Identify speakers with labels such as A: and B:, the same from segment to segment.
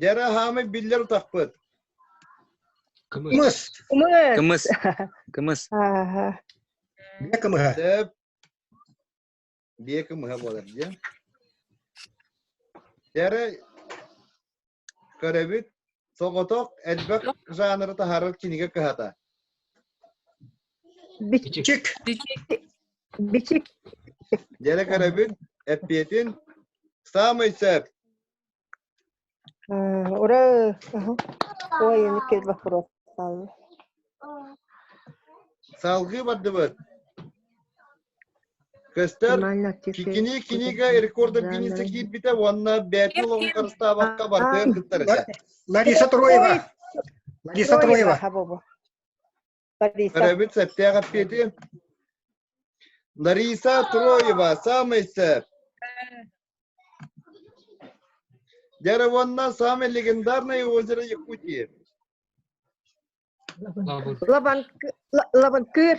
A: Дьара аһаамай биллэр утахпыт. Кымыс. Кымыс. Кымыс. Бие кымыһа. Сөп. Бие кымыһа буолар дия. Дьара көрөбүт соҕотох элбэх жанры таһарар кинигэ кыһата. Бичик. Бичик. Дьэрэ карабин, эппиэтин, самый сөп. Ура, ой, никел вопрос. Салгы бардыбыт. Көстөр кини кинига рекордов кинисе киирбите уонна бэтин олоҕун харыстаабакка бартыан кыттарыса. Лариса Труева. Лариса Труева. Лариса. Карабин сэптээх эппиэти. Лариса Троева, самый сэр. Деревонна, самое легендарное озеро Якутии. Лабанкыр. Лабанкыр.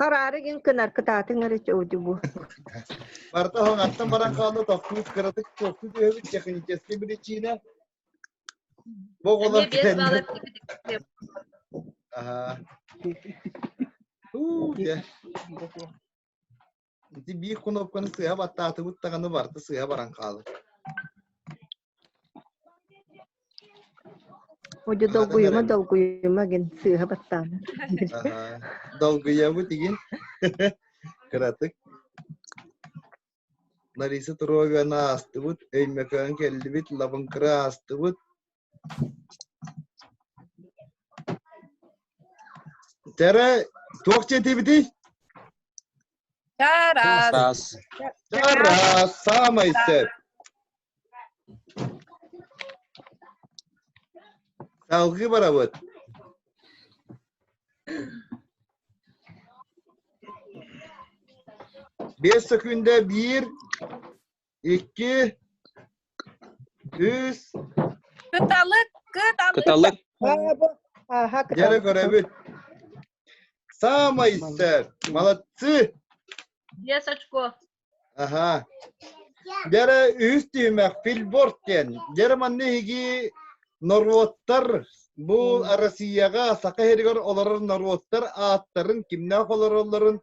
A: Хараары гин кынар кытаатың эрэ чоуди бу. Барта хоңаттан баран хаалла тохтуут кыратык тохту диэбит технический причина. Бу оҕолор кэннэ. Аха. Уу, Ити биир кнопканы сыыһа баттаатыбыт даҕаны барыта сыыһа баран хаалар. Одьо долгуйума, долгуйума гин сыыһа баттаана. Долгуйабыт игин. Кыратык. Лариса Туровина аастыбыт, Өймөкөөн келлибит, Лабынкыра аастыбыт, Тэрэ, туох диэтибитий? Тарас. Тарас. Тарас, самый сөп. Салгы барабыт. Бес секундэ bir Икки. Үс. Кыталык, кыталык. Кыталык. Ааха, Дьэрэ көрөбүт. Самый сэр. Молодцы. Без очко. Ага. Дьэрэ үһүс түһүмэх Фильборд диэн. Дьэрэ манна иһиги норуоттар бу Россияҕа Саха иһэригэр олорор норуоттар ааттарын, кимнээх олороллорун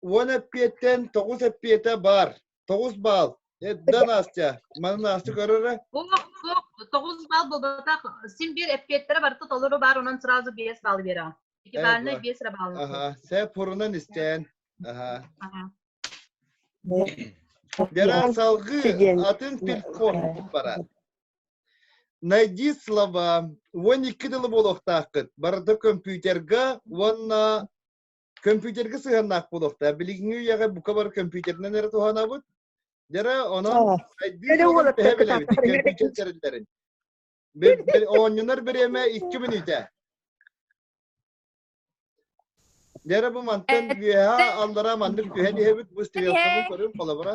A: уон эппиэттэн тоҕус эппиэтэ баар тоҕус баал эддан Настя маны Настя көрөрө бук бук тоҕус баал буолбатах син биир эппиэттерэ барыта толору баар онон сразу биэс баал бере iki баалына биэс эрэ баал аха сэ пурунан истээн аха Беран салгы атын телефон барар найди слова уон икки дылы буолуохтааххыт барыта компьютерга уонна Компьютерга сыһыаннаах буолуохтаах. Билигинҥи үйэҕэ бука бар компьютеринэн эрэ туһанабыт. Дьара онон тэриллэрин. Оонньунар бириэмэ икки мүнүүтэ. Дьара бу мантан э, үөһэ э, аллара маннык түһэн иһэбит бу стереотабын көрүн холобура.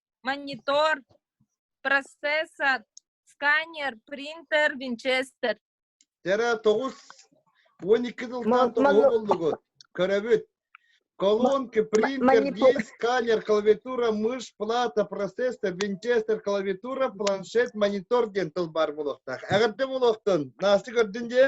A: монитор процессор сканер принтер винчестер Тера тоғыз он екі жылдан тоғу болдугут көрөбүт колонки принтер диск сканер клавиатура мыш плата процессор винчестер клавиатура планшет монитор диэн тыл бар болуохтаах эҕэрдэ болуохтун наасты көрдүн дии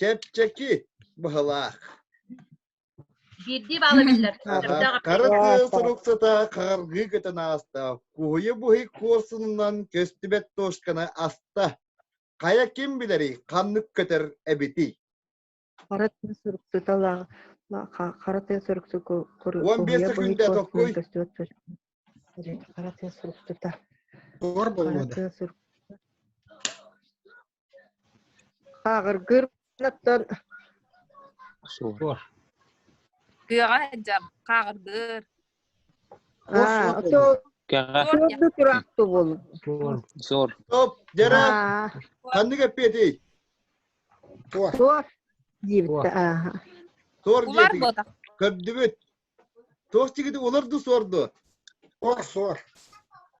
A: Кэпчэки быһылаах. Биирдии баала биллэр. Хара тыа суруксата хаҕаргыы көтөн ааста. Куһуйа буһи куорсунунан көстүбэт тошканы аста. Хайа ким билэри ханнык көтөр эбитий? Хара тыа суруксута хара тыа суруксу Он бес секунда какой? Хара тыа суруксута. Хара тыа суруксута. Ааҕыргыыр оттон Кыаҕа сылдьар, хааҕырдыыр. Туорду тураахтыбыл. Суор. Стоп, дьара. Ханнык эппиэтий? Туор. Туор диэбитэ. Туор диэбитэ. Көрдүбүт. Туос тигити олорду суорду. Ор суор.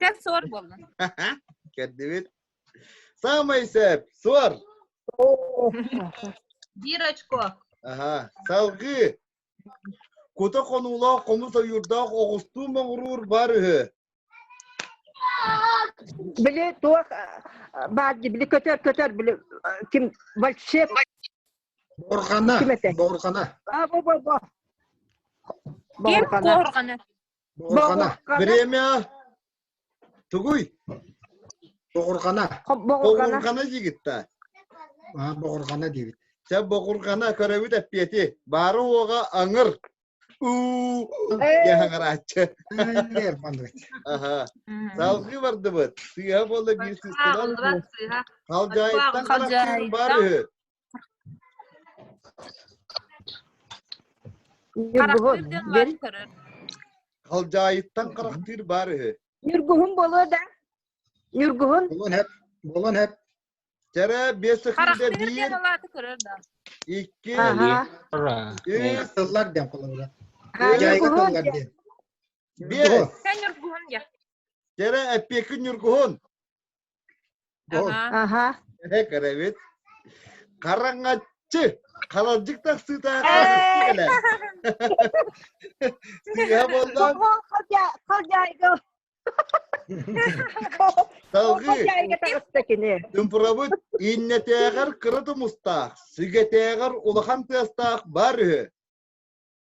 A: Кэн суор болла. Көрдүбүт. Самый цепь, суор. Биир очко. Аха, салгыы. Кута хонуулаах хомус ойуурдаах оҕустуу моҥуруур бар үһү. Били туох баар били көтөр көтөр били ким вальшеп Борҕана, Ким этэ? Борҕана. а бу бу бу Ким Борҕана. куорҕана. Боҕурҕана, время тугуй? Боҕурҕана. Боҕурҕана диигит да? Боҕурҕана диибит. Чэ, боҕурҕана көрөбүт эппиэти. Баары уоҕа аҥыр. Уу, яһаҥарааччы. Салгыы бардыбыт. Сыыһа буолла биир сыыстынан. Халдьаайыттан барар баар үһү. Ньургуһун, бэл. Халдьаайыттан харахтыыр баар үһү. Ньургуһун болуо да? Ньургуһун? Болон хэп. Болон хэп. Жара бес сыхыйда биир. Икки. Үс сыллар дем колонура. Ньургуһун диэн. Бес. Ньургуһун диэн. Жара эппекин ньургуһун. Аха. Кырабыт. Хараҥаччы. Халалдьык тахсыыта Сыыһа болдон. Салгыы. Дымпырабыт иннэтээҕэр кыра тумустаах, сүгэтээҕэр улахан тыастаах бар үһү.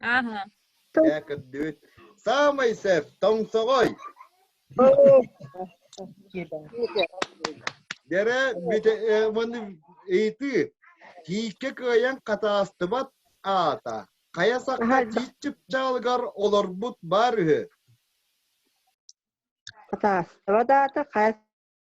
A: Ааһа. Э, көрдүбүт. Саамай сөп, тоҥсоҕой. Бэрэ, бите, э, маны ыйытыы. Тииккэ кыайан хатаастыбат аата. Хайа сахта тииччip чаалыгар олорбут баар үһү. Хатаастыбат аата хайа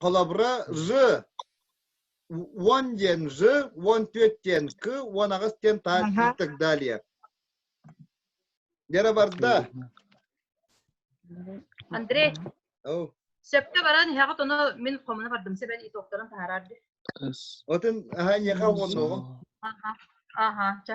A: холобура ж уон диэн ж уон түөрт диэн к уон аҕыс диэн та и так далее Вера барда Андрей сөпкө баран иһэҕит ону мин хомуна бардым сэбэн итоктарын таһаарарды отын аха эниэхэ уоннуоҕу аха аха ча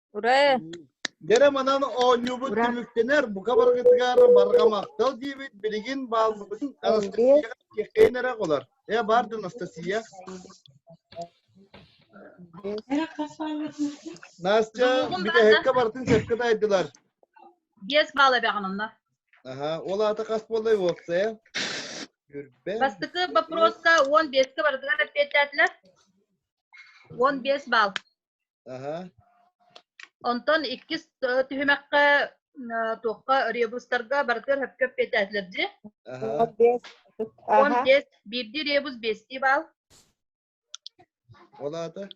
A: Ура! Дэрэ манан оонньуубут түмүктэнэр, бука барыгытыгар барҕамахтал диибит, билигин бааллыбытын Анастасия киэхэйин эрэ болар. Э, бар да Анастасия. Настя, бүтэһэккэ бартын сөпкө дайдылар. Биэс баала бэҕананна. Аха, ол аата хас боллай уопсая? Бастыкы вопроска он беске бардыгар эппиэттээтилэр. Он бес бал. Онтон иккис түһүмэххэ туохха ребустарга барытыгар сөпкө эппиэтээтилэр дии. Он бес. Он бес. Биирдии ребус бестии баал. Ол аата?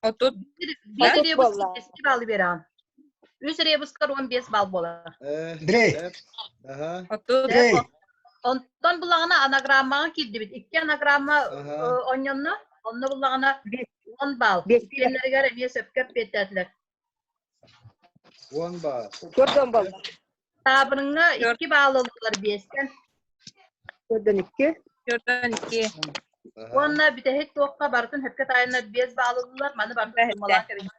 A: Отут. Биир ребус бестии баалы береҕин. Үс ребустар он бес баал буолар. Дрей. Отут. Онтон булаҕына анаграммаҕа киирдибит. Икки анаграмма онньонно, онно булаҕына он балл. Киэннэригэр эмиэ сөпкө эппиэттээтилэр. Он балл. Төрт он балл. Таабырыҥҥа икки балл ыллылар биэстэн. Төртөн икки. Төртөн икки. Уонна бүтэһик туохха барытын сөпкө таайыннар биэс балл ыллылар. Маны барытын суммалаан кэбиниттэ.